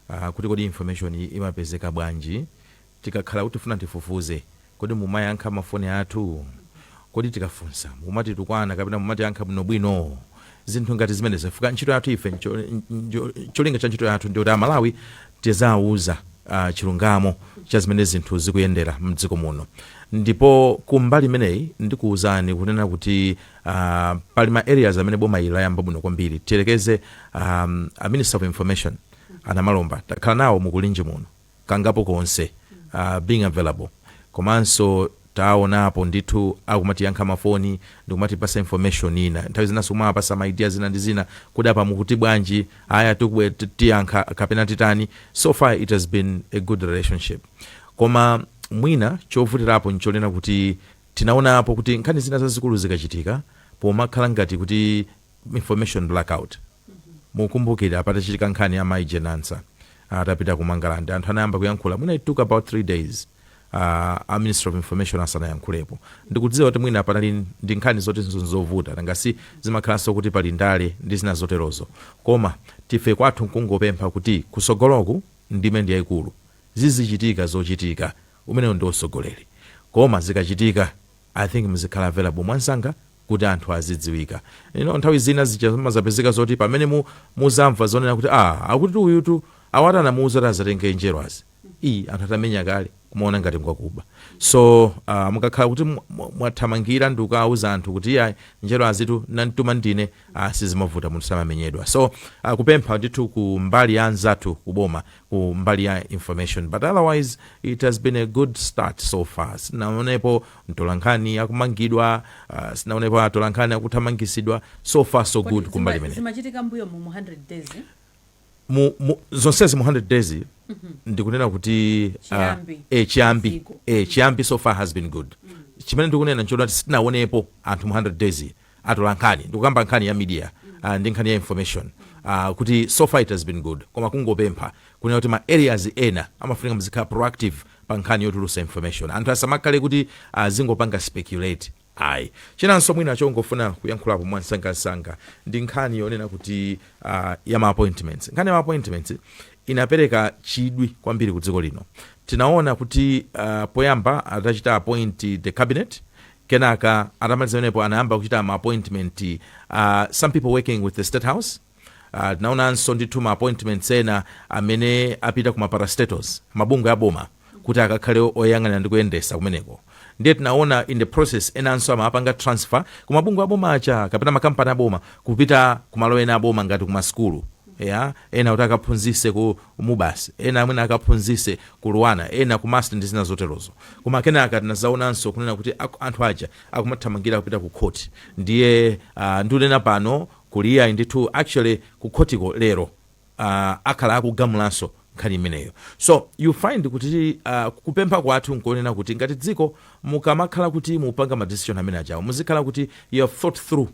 uh, kuti kodi information imapezeka bwanji tikakhala kuti tifuna tifufuze kodi mumayankha mafoni athu kodi tikafunsa mumatitukwana kapena mumatiyankha bwinobwino zinthu ngati zimenezo chifukwa ntchito yathu ife ncho- njo- cholinga cha ntchito yathu ndi yoti amalawi tizawuza uh, chilungamo cha zimene zinthu zikuyendera mdziko muno ndipo kumbali imeneyi ndikuwuzani kunena kuti uh, pali ma areas amene boma ili layamba bwino kwambiri tiyerekeze um, a minister of information a Namalomba takhala nawo mu Kulinji muno kangapo konse uh, being available komanso taonapo ndithu akumatiyankha mafoni ndikumatipasa information ina nthawi zinanso kumawapasa ma idea zina ndi zina kuti apa mukuti bwanji aya tikubwe ti- tiyankha kapena titani so far it has been a good relationship koma mwina chovutirapo nchonena kuti tinaonapo kuti nkhani zina zazikulu zikachitika pomakhala ngati kuti information blackout mukumbukira patachitika nkhani ya mai Jane Ansah atapita ku mangalande anthu anayamba kuyankhula mwina it took about three days uh, a minister of information asanayankhulepo ndikudziwa kuti mwina panali ndi nkhani zoti zovuta nanga si zimakhalanso kuti pali ndale ndi zina zoterozo komatu ife kwathu nkungopempha kuti kusogoloku ndime ndi yayikulu zizichitika zochitika umenewo ndi usogoleri koma zikachitika i think muzikhala available mwansanga kuti anthu azidziwika. You know nthawi zina zija zimazapezeka zoti pamene mu, muzamva zonena kuti ah akutitu uyutu awatu anamuuza kuti azatenge njerwazi ii anthu atamenya kale kumaona ngati ngwakuba so ah, mukakhala kuti mwa- mwa- mwathamangira ndi kukauza anthu kuti iya njerwazitu nantuma ndine ah, sizimavuta munthu samamenyedwa so ah, kupempha ndithu ku mbali ya anzathu kuboma ku mbali ya information but otherwise it has been a good start so far sinaonepo mtolankhani akumangidwa uh, sinaonepo atolankhani akuthamangisidwa so far so Kodi good zima- kumbali imene zimachitika mbuyo mu mu 100 days eh? mu, mu, zonsezi mu 100 days ndikunena kuti uh, Chiyambi. eh, chiyambi Ziko. eh, chiyambi so far has been good chimene ndikunena nchoona kuti sitinaonepo anthu mu 100 days atolankhani ndikukamba nkhani ya media uh, ndi nkhani ya information uh, kuti so far it has been good koma kungopempha kunena kuti ma areas ena amafunika muzikhala proactive pa nkhani yotulusa information anthu asamakhale kuti azingopanga uh, speculate ayi chinanso mwina chongofuna kuyankhulapo mwansangansanga ndi nkhani yonena kuti uh, ya ma appointments nkhani ya ma appointments inapereka chidwi kwambiri ku dziko lino tinaona kuti uh, poyamba atachita appoint the cabinet Kenaka atamaliza pamenepo anayamba kuchita ma appointment a some people working with the state house. Uh, tinaonanso ndithu ma appointments ena amene apita ku ma parastatals mabungwe aboma kuti akakhale oyang'anira ndi kuyendesa kumeneko ndiye tinaona in the process enanso amapanga transfer ku mabungwe aboma aja kapena makampani aboma kupita ku malo ena aboma ngati ku masukulu Eya, ena kuti akaphunzise ku Mubas, ena mwina akaphunzise ku Luanar, ena ku MUST ndi zina zoterozo. Koma kenaka tinazaonanso kunena kuti anthu aja akumathamangira kupita ku court. Ndiye aah ndunena pano kuli iyayi ndithu actually ku court ko lero aah akhala akugamulanso nkhani imeneyo. So you find kuti aah kupempha kwathu nkonena kuti ngati dziko mukamakhala kuti mupanga ma decision amene ajawo muzikhala kuti you have thought through.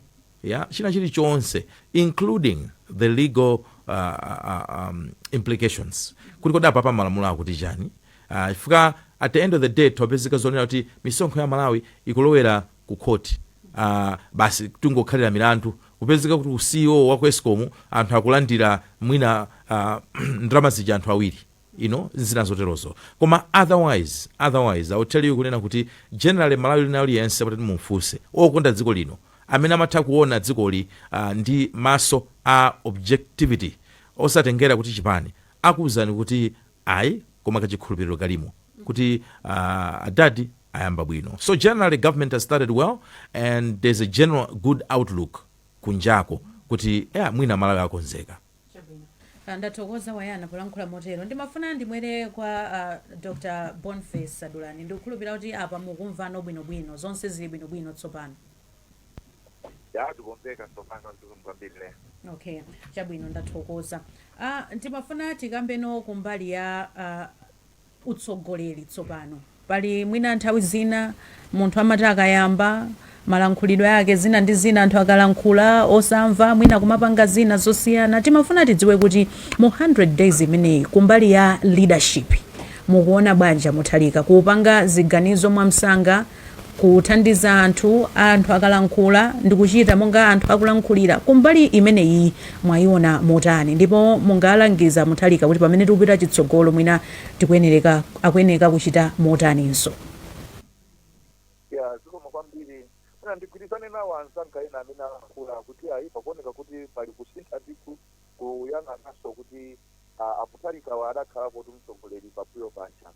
ya china chilichonse including the legal uh, uh, um, implications kuti kodi apapa malamulo akuti chani Ah, chifukwa at the end of the day tapezeka zoona kuti misonkho ya malawi ikulowera ku khoti Ah, basi tingokhalira milandu kupezeka kuti u CEO wa ku ESCOM anthu akulandira mwina ah, ndalama zija anthu awiri you know, zina zoterozo koma otherwise otherwise i will tell you kunena kuti generally malawi lino aliyense mutati mumfunse okonda dziko lino amene amatha kuona dzikoli uh, ndi maso a objectivity osatengera kuti chipani akuwuzani kuti ayi koma kachikhulupiriro kalimo kuti uh, adadi ayamba bwino so generally government has started well and there's a general good outlook kunjako kuti yeah, mwina malawi akonzeka Chabwino. Ah, ndathokoza wayana polankhula motero ndimafuna ndibwere kwa ah, dr Boniface Dulani ndikukhulupirira kuti apa mukumvano bwinobwino zonse zili bwinobwino tsopano Ya tikumveka, tsopano zikomo kwambiri lero. okay chabwino ndathokoza ah, ndimafuna tikambeno kumbali ya ah, utsogoleri tsopano. Pali mwina nthawi zina munthu amati akayamba malankhulidwe ake zina ndi zina anthu akalankhula osamva mwina kumapanga zina zosiyana timafuna tidziwe kuti mu 100 days imeneyi kumbali ya leadership mukuona bwanja Mutharika kupanga ziganizo mwamsanga Kuthandiza anthu, anthu akalankhula ndi kuchita monga anthu akulankhulira, kumbali imeneyi mwayiona motani? Ndipo mungalangize a Mutharika kuti pamene tikupita chitsogolo mwina akuyeneka kuchita motaninso? Ya, zikomo kwambiri. Mwina ndigwirizane nawo anzanga ena amene alankhula kuti ayi pakuoneka kuti pali kusintha ndithu kuyang'ananso kuti a Mutharikawa adakhalapotu mtsogoleri pambuyo paja.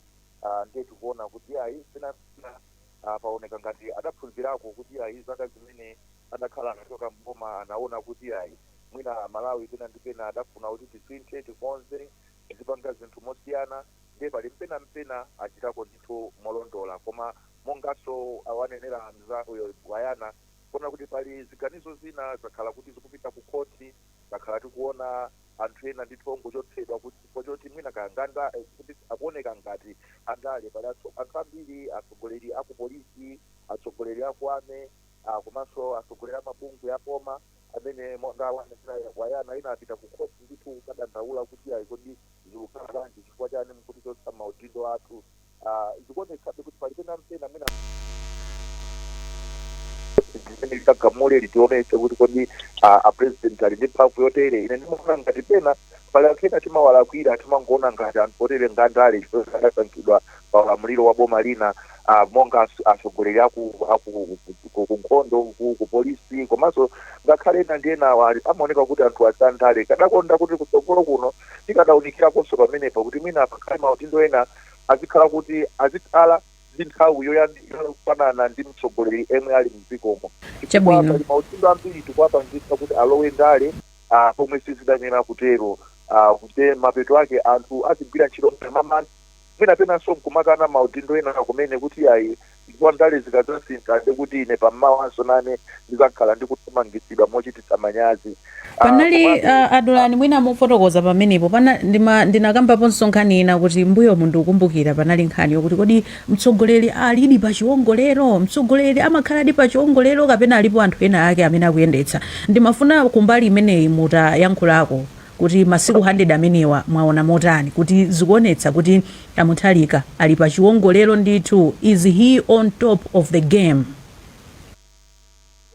ah, ndiye tikuona kuti ayi pena mpena ah, paoneka ngati adaphunzirako kuti ayi zaka zimene adakhala anachoka mboma anaona kuti ayi mwina Amalawi pena ndi pena adafuna kuti tisinthe tikonze tizipanga zinthu mosiyana ndiye pali mpena mpena achitako ndithu molondola koma monganso awanenera mzangayo Gwayana kuona kuti pali ziganizo zina zakhala kuti zikupita ku khoti zakhala tikuona anthu ena ndithu ongochotsedwa kuti chifukwa choti mwina kaya ngandale eh, kuti akuoneka ngati andale pali atso- anthu ambiri atsogoleri aku polisi atsogoleri aku army ah, komanso atsogoleri a mabungwe aboma amene monga awanenera a Gwayana inapita ku khoti ndithu kukadandaula kuti ayi kodi zikukhala bwanji chifukwa chani mukutichotsa maudindo athu ah, zikuonetsabe kuti pali pena mpena mwina mmene litagamule litionetse kuti kodi ah, a president ali ndi mphamvu yotere ine ndimaona ngati pena pali anthu ena timawalakwira timangoona ngati anthu otere ngandale chifukwa adasankhidwa pa ulamuliro wa boma lina ah, monga as- atsogoleri aku aku- ku- ku nkhondo ku- ku polisi komanso ngakhale ena ndi enawa ali- amaoneka kuti anthu azandale ndikadakonda kuti kutsogolo kuno tikadaunikirakonso pamenepo kuti mwina pakhale maudindo ena azikhala kuti azikhala ndi nthawi yoyandikira yofanana ndi mtsogoleri yemwe ali mdzikomo chifukwa Chabwino. pali maudindo ambiri tikuwapangitsa kuti alowe ndale ah, pomwe sizidayenera kutero Ah, kuti mapeto ake anthu azigwira ntchito mwamantha mwina penanso nkumakana maudindo ena kumene kuti yayi chifukwa ndale zikadzasintha ndi kuti ine pammawanso nane ndizakhala ndikuthamangitsidwa mochititsa manyazi Ah, panali komabe- uh, a Dulani mwina mufotokoza pamenepo pana ndima- ndinakambaponso nkhani ina kuti mbuyomu ndikukumbukira panali nkhani yokuti kodi mtsogoleri alidi pa chiwongolero mtsogoleri amakhaladi pa chiwongolero kapena alipo anthu ena ake amene akuyendetsa ndimafuna kumbali imeneyi mutayankhulako kuti masiku 100 amenewa mwaona motani kuti zikuonetsa kuti a Mutharika ali pa chiwongolero ndithu, is he on top of the game?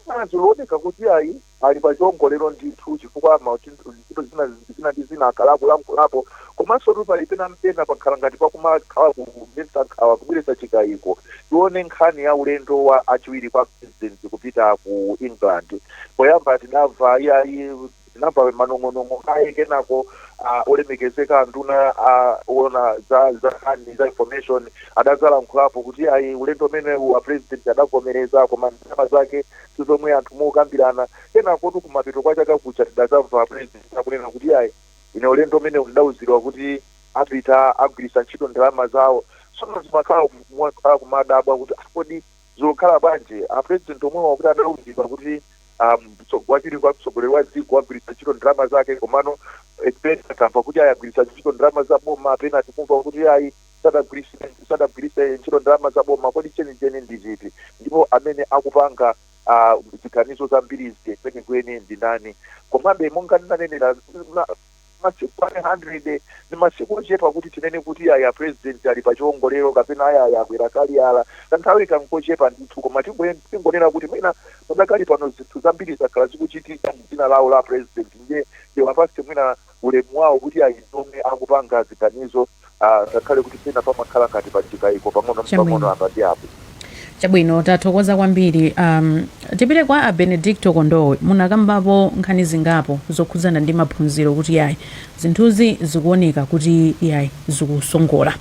Zina zikuoneka kuti ayi ali pa chiwongolero ndithu chifukwa mauthenga, zinthu zina zina ndi zina akhala akulankhulapo komansotu pali pena mpena pakhala ngati pakumakhala kudetsa nkhawa, kubweretsa chikaiko. Tione nkhani ya ulendo wa achiwiri kwa President kupita ku England, poyamba tidamva iyayi, Tinamva manong'onong'o kaye kenako ah, olemekezeka anduna ah, ona za za nkhani za information adadzalankhulapo kuti ayi ulendo umenewu a president adavomereza koma ndalama zake si zomwe anthu mukambirana kenako tu kumapeto kwa chaka kuja tidadzamva a president akunena kuti ayi ine ulendo umenewu ndidauzidwa kuti apita agwiritsa ntchito ndalama zawo sono zimakhala kumwa- ah, kumadabwa kuti ah, kodi Zikukhala bwanji a president omwewa kuti adauzidwa kuti um, mtso- wachiwiri kwa mtsogoleri wa dziko agwiritsa ntchito ndalama zake komano eh, pena tamva kuti ayi agwiritsa ntchito ndalama za boma pena tikumva kuti ayi sadagwiritse sadagwiritse ntchito ndalama za boma kodi chenicheni ndi chiti ndipo amene akupanga ah, ziganizo zambiri izi kwenikweni ndi ndani komabe monga ndinanenera na- masiku 100 ndi masiku ochepa kuti tinene kuti aya president ali pa chiongolero kapena aya aya akwera kaliyala kanthawi n'kochepa ndithu koma tingoyen- tingonena kuti mwina padakali pano zinthu zambiri zakhala zikuchitika mu dzina lawo la president ndiye ndiwapase mwina ulemu wawo kuti ayi ndi omwe akupanga ziganizo ah, ngakhale kuti pena pamakhala ngati pa chikaiko pang'ono apa ndi apo chabwino tathokoza kwambiri um, tipite kwa a benedicto kondowe munakambapo nkhani zingapo zokhudzana ndi maphunziro kuti yayi zinthuzi zikuoneka kuti yayi zikusongola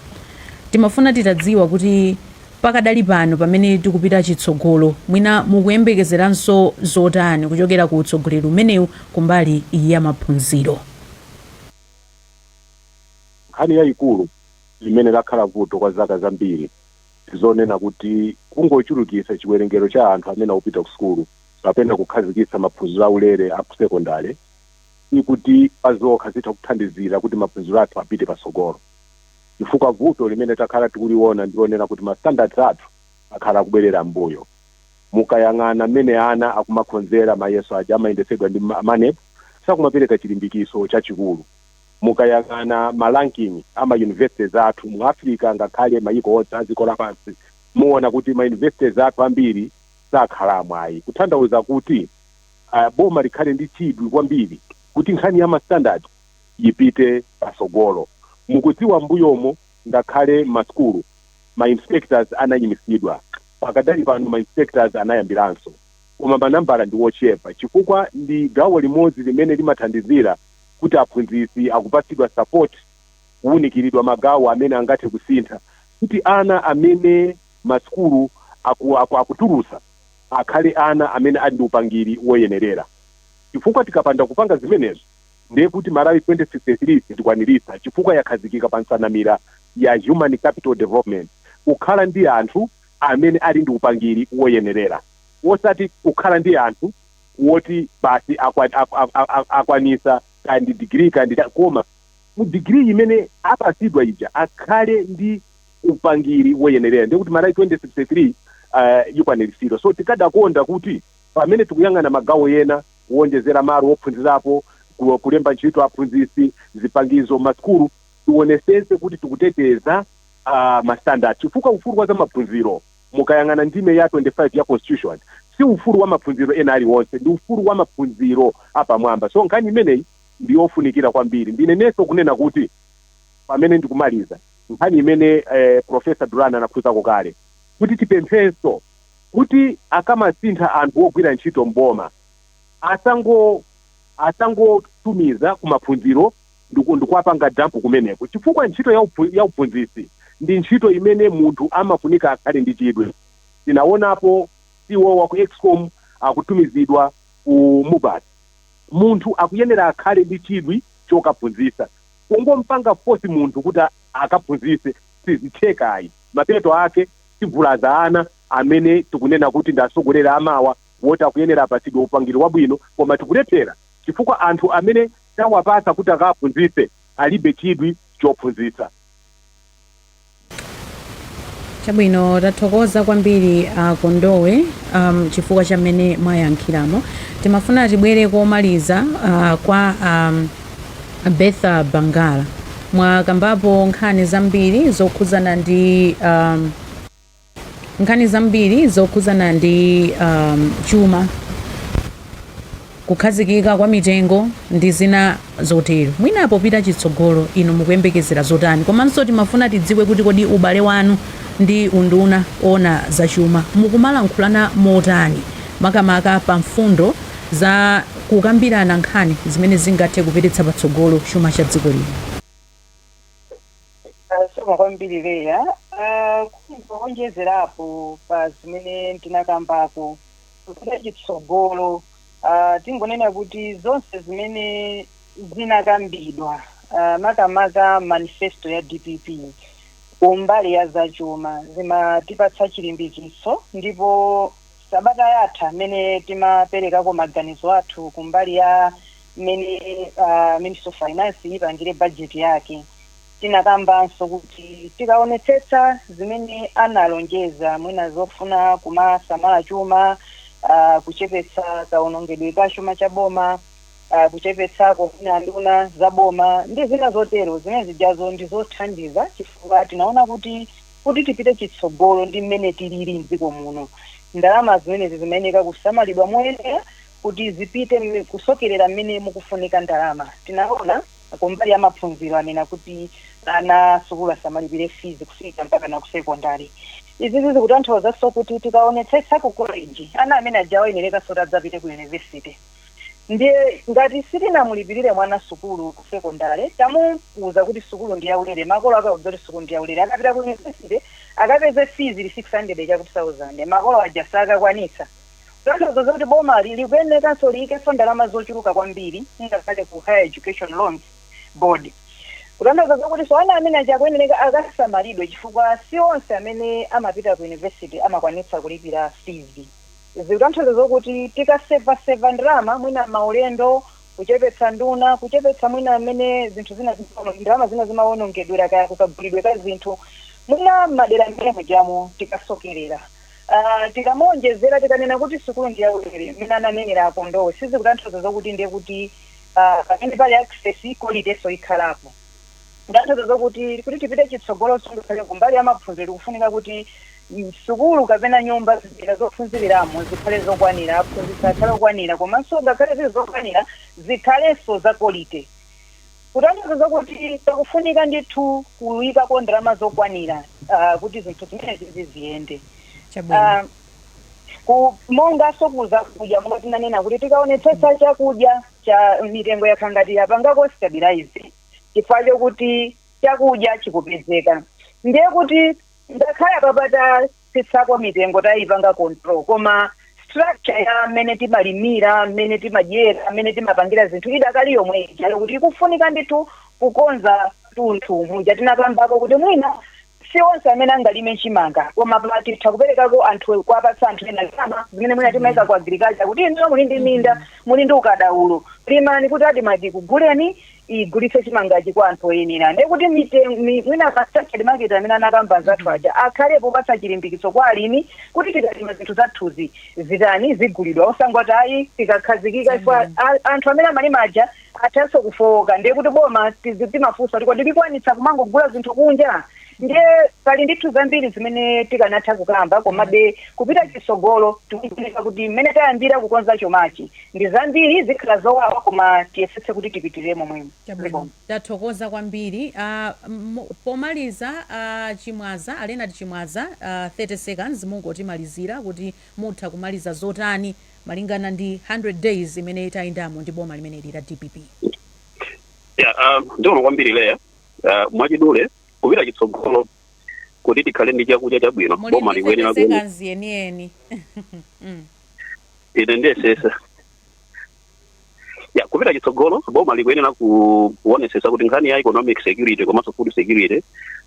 timafuna titadziwa kuti pakadali pano pamene tikupita chitsogolo mwina mukuyembekezeranso zotani kuchokera ku utsogoleri umenewu kumbali ya maphunziro Nkhani yaikulu imene lakhala vuto kwa zaka zambiri ndi zonena kuti kungochulukitsa chiwerengero cha anthu amene akupita kusukulu kapena kukhazikitsa maphunziro aulere a kusekondale sikuti pazokha zitha kuthandizira kuti maphunziro athu apite patsogolo chifukwa vuto limene takhala tikuliona ndi lonena kuti ma standards athu akhala akubwerera m'mbuyo. Mukayang'ana mmene ana akumakhonzera mayeso aja amayendetsedwa ndi Maneb, sakumapereka chilimbikitso chachikulu. Mukayang'ana ma ranking a ma universities athu mu Africa ngakhale mayiko onse a dziko lapansi, muona kuti ma universities athu ambiri sakhala amwayi. Kutanthauza kuti boma likhale ndi chidwi kwambiri kuti nkhani ya ma standard ipite patsogolo. Mukudziwa m'mbuyomo ngakhale mma sukulu ma inspectors anayimitsidwa, pakadali pano ma inspectors anayambiranso koma manambala ndi wochepa chifukwa ndi gawo limodzi limene limathandizira. kuti aphunzitsi akupatsidwa support kuwunikiridwa magawo amene angathe kusintha kuti ana amene ma sukulu aku aku akutulutsa akhale ana amene ali ndi upangiri woyenerera chifukwa tikapanda kupanga zimenezo ndiye kuti Malawi 2063 sitikwaniritsa chifukwa yakhazikika pa nsanamira ya Human Capital Development kukhala ndi anthu amene ali ndi upangiri woyenerera wosati kukhala ndi anthu woti basi akwanisa kaya ndi degree kaya ndi cha- koma mu degree imene apatsidwa ija akhale ndi upangiri woyenerera ndiye kuti Malawi 2063 uh, ikwaniritsidwa so tikadakonda kuti pamene tikuyang'ana magawo ena kuwonjezera malo wophunzirapo ku- kulemba ntchito aphunzitsi zipangizo m'masukulu tionetsetse kuti tikuteteza uh, mastandard chifukwa ufulu wa za maphunziro Mukayang'ana ndime ya 25 ya Constitution, si ufulu wa maphunziro ena aliwonse, ndi ufulu wa maphunziro apamwamba. So nkhani imeneyi ndi yofunikira kwambiri. Ndinenenso kunena kuti, pamene ndikumaliza, nkhani imene Professor Dulani anakhuzako kale, kuti tipemphenso kuti akamasintha anthu ogwira ntchito m'boma, asa- asangotumiza ku maphunziro ndi, ndi kuwapanga dump kumeneko, chifukwa ntchito ya, ya uphunzitsi ndi ntchito imene munthu amafunika akhale ndi chidwi. Tinawonapo CEO wa ku Escom akutumizidwa ku Mubas. Munthu akuyenera akhale ndi chidwi chokaphunzitsa. Kungompanga force munthu kuti akaphunzitse sizitheka ayi. Mapeto ake tivulaza ana amene tikunena kuti ndi atsogoleri amawa woti akuyenera apatsidwe upangiri wabwino koma tikulephera chifukwa anthu amene. tawapatsa kuti akaphunzitse alibe chidwi chophunzitsa. Chabwino, tathokoza kwambiri a Kondowe um, chifukwa cha mmene mwayankhiramo. Timafuna tibwere komaliza uh, kwa a Bertha Bangala mwakambapo nkhani zambiri zokhudzana ndi um, nkhani zambiri zokhudzana ndi um, chuma kukhazikika kwa mitengo ndi zina zotero mwina popita chitsogolo inu mukuyembekezera zotani komanso timafuna tidziwe kuti kodi ubale wanu ndi unduna woona zachuma mukumalankhulana motani makamaka pa mfundo za kukambirana nkhani zimene zingathe kupititsa patsogolo chuma cha dziko lino Zikomo kwambiri Leah Ah, kungoonjezerapo pa zimene tinakambako kupita chitsogolo ah, tingonena kuti zonse zimene zinakambidwa ah, makamaka mu manifesto ya DPP kumbali ya zachuma zimatipatsa chilimbikitso ndipo Sabata yatha mmene timaperekako maganizo athu kumbali ya mmene Ministry of Finance ipangire budget yake, tinakambanso kuti tikaonetsetsa zimene analonjeza mwina zofuna kumasamala chuma, a kuchepetsa kaonongedwe ka chuma cha boma, a kuchepetsako mwina nduna za boma ndi zina zotero, zimene zijazo ndi zothandiza chifukwa tinaona kuti. Kuti tipite chitsogolo ndi mmene tilili m'dziko muno, ndalama zimenezi zimayeneka kusamalidwa moyenera kuti zipite kusokerera mmene mukufunika ndalama. Tinaona kumbali ya maphunziro anena kuti ana asukulu asamalipire fizi kufika mpakana ku sekondale. Izi zikutanthauzanso kuti tikaonetsetsa ku koleji, ana amene ajawo ayenerekaso kuti adzapite ku yunivesite. Ndiye ngati sitinamulipirire mwana sukulu ku sekondale, tamuuza kuti sukulu ndi yaulere, makolo ake tawauza kuti sukulu ndi yaulere, akapita ku yunivesite akapeze fizi ili 600 chakuti sauzande, makolo aja sakakwanitsa. Kutanthauza zakuti boma likuyenekanso liyikenso ndalama zochuluka kwambiri ngakhale ku Higher Education Loans Board. Kutanthauza zokutinso ana amene aja akuyeneka akasamalidwe chifukwa si onse amene amapita ku yunivesite amakwanitsa kulipira fizi. Izi zikutanthauza zokuti tikaseva seva ndalama mwina maulendo, kuchepetsa nduna, kuchepetsa mwina mmene zinthu zina zimaono, ndalama zina zimaonongedwera kaya kukagulidwe ka zinthu, mwina mmadera amene mujamo tikasokerera. Aah tikamaonjezera tikanena kuti sukulu ndi ya ulere mmene ananenera a Kondowe sizikutanthauza zokuti ndiye kuti aah pamene pali access qualityso ikhalapo. Kutanthauza zokuti kuti tipite chitsogolo so ngakhale ku mbali ya maphunziro tikufunika kuti sukulu kapena nyumba zipinda zophunziliramo zikhale zokwanira aphunzitsi akhale okwanira komanso ngakhale zili zokwanira zikhalenso za kolite kutanthauza zokuti pakufunika ndithu kuyikako ndalama zokwanira uh, kuti zinthu zimenezi ziziyende chabwino uh, mongaso ku zakudya monga tinanena kuti tikaonetsetsa chakudya chija mitengo yakhala ngati yapangako stabilize chifukwa chokuti chakudya chikupezeka ndiye kuti ngakhale apapa tatsitsako mitengo tayipanga control koma structure ya mmene timalimira mmene timadyera mmene timapangira zinthu idakali yomwe ija kuti ikufunika ndithu kukonza tunthu muja tinakambako kuti mwina Si onse amene angalime chimanga koma apa titha kuperekako anthu kuwapatsa anthu ena ndalama zimene mwina timayika ku agriculture kuti inuyo muli ndi minda muli ndi ukadaulo limani kuti admarc ikuguleni igulitse chimangachi kwa anthu oyenera ndiye kuti mite- mi- mwina ma structured market amene anakamba anzathu aja akhalepo kupatsa chilimbikitso kwa alimi kuti tikalima zinthu zathuzi zitani zigulidwa osangoti ayi tikakhazikika chifukwa a- anthu amene amalima aja athanso kufowoka ndiye kuti boma tizi- timafunsa kuti kodi likwanitsa kumangogula zinthu kunja ndiye pali ndithu zambiri zimene tikanatha kukamba komabe kupita chitsogolo tikufunika kuti mmene tayambira kukonza chumachi ndi zambiri zikhala zowawa koma tiyesetse kuti tipitirire momwemo Chabwino. tathokoza kwambiri Ah, m- pomaliza ah, Chimwaza a Leonard Chimwaza ah, 30 seconds mungotimalizira kuti mutha kumaliza zotani malingana ndi 100 days imene tayendamo ndi boma limeneli la dpp um, ndiona kwambiri leya uh, mwachidule kupita chitsogolo kuti tikhale ndi chakudya chabwino muli boma likuyenera kuona ndipezekazi yeniyeni Mm. ine ndiyesesa ya kupita chitsogolo boma likuyenera ku- kuonesesa kuti nkhani ya economic security komanso food security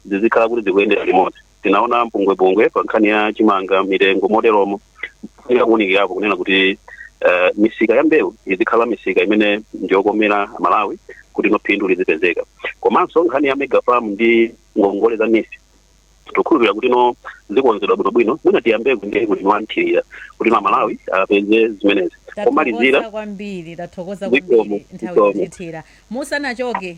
zizikhala kuti zikuyendera limodzi tinaona mpungwepungwe pa nkhani ya chimanga mitengo moteromo nakuunikirapo kunena kuti eh, misika ya mbewu izikhala misika imene ndiyokomera amalawi kuti no phindu lizipezeka komanso nkhani ya mega farm ndi ngongole za neef tikukhulupirira kuti no zikonzedwa bwinobwino mwina tiyambeko ndi kuti wamthirira kuti no amalawi apeze zimenezi tathokoza pomalizira kwambiri tathokoza Zikomo, kwambiri nthawi zikomo. yotithira musanachoke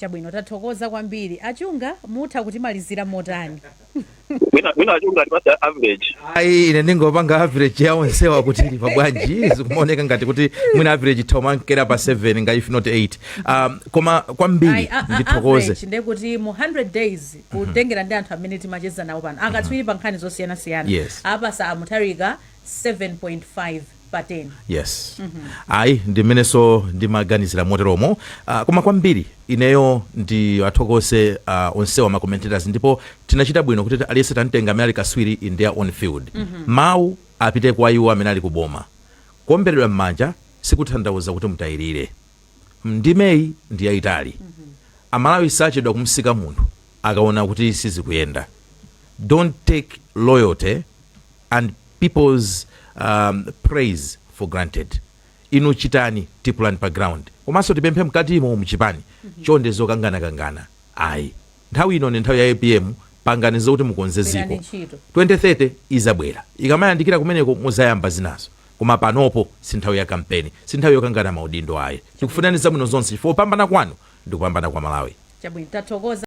Chabwino, tathokoza kwambiri. A Chunga, mutha kutimalizira motani? Mwina mwina achunga atipatse average. ayi ine ndingopanga average ya onsewa kuti ili pabwanji zikumaoneka ngati kuti mwina average ikumankera pa 7 nga if not 8 um, koma Ayi, kwambiri a- a- ndithokoze average ndekuti mu 100 days kutengera ndi anthu amene timacheza nawo pano akatswiri pa nkhani zosiyanasiyana Yes. apasa a Mutharika 7.5 pa 10 yes ayi ndim'menenso ndimaganizira moteromo uh, koma kwambiri ineyo ndiwathokoze uh, onsewa ma commentators ndipo tinachita bwino kuti aliyense tamtenga amene ali kaswiri in their own field mawu apite kwa iwo amene ali kuboma kuomberedwa m'manja sikutanthauza kuti mutayirire ndimeyi ndi yayitali amalawi sachedwa kumsiya munthu akaona kuti sizikuyenda don't take loyalty and peoples um, praise for granted inu chitani deliver pa ground komanso tipemphe mkatimo mchipani mhm. chonde zokangana kangana ayi nthawi ino ni nthawi ya apm pangani zokuti mukonze ziko 2030 izabwera ikamayandikira kumeneko muzayamba zinazo koma panopo si nthawi ya kampeni si nthawi yokangana maudindo ayi tikufunirani zabwino zonse chifukwa kupambana kwanu ndi kupambana kwa malawi chabwino tathokoza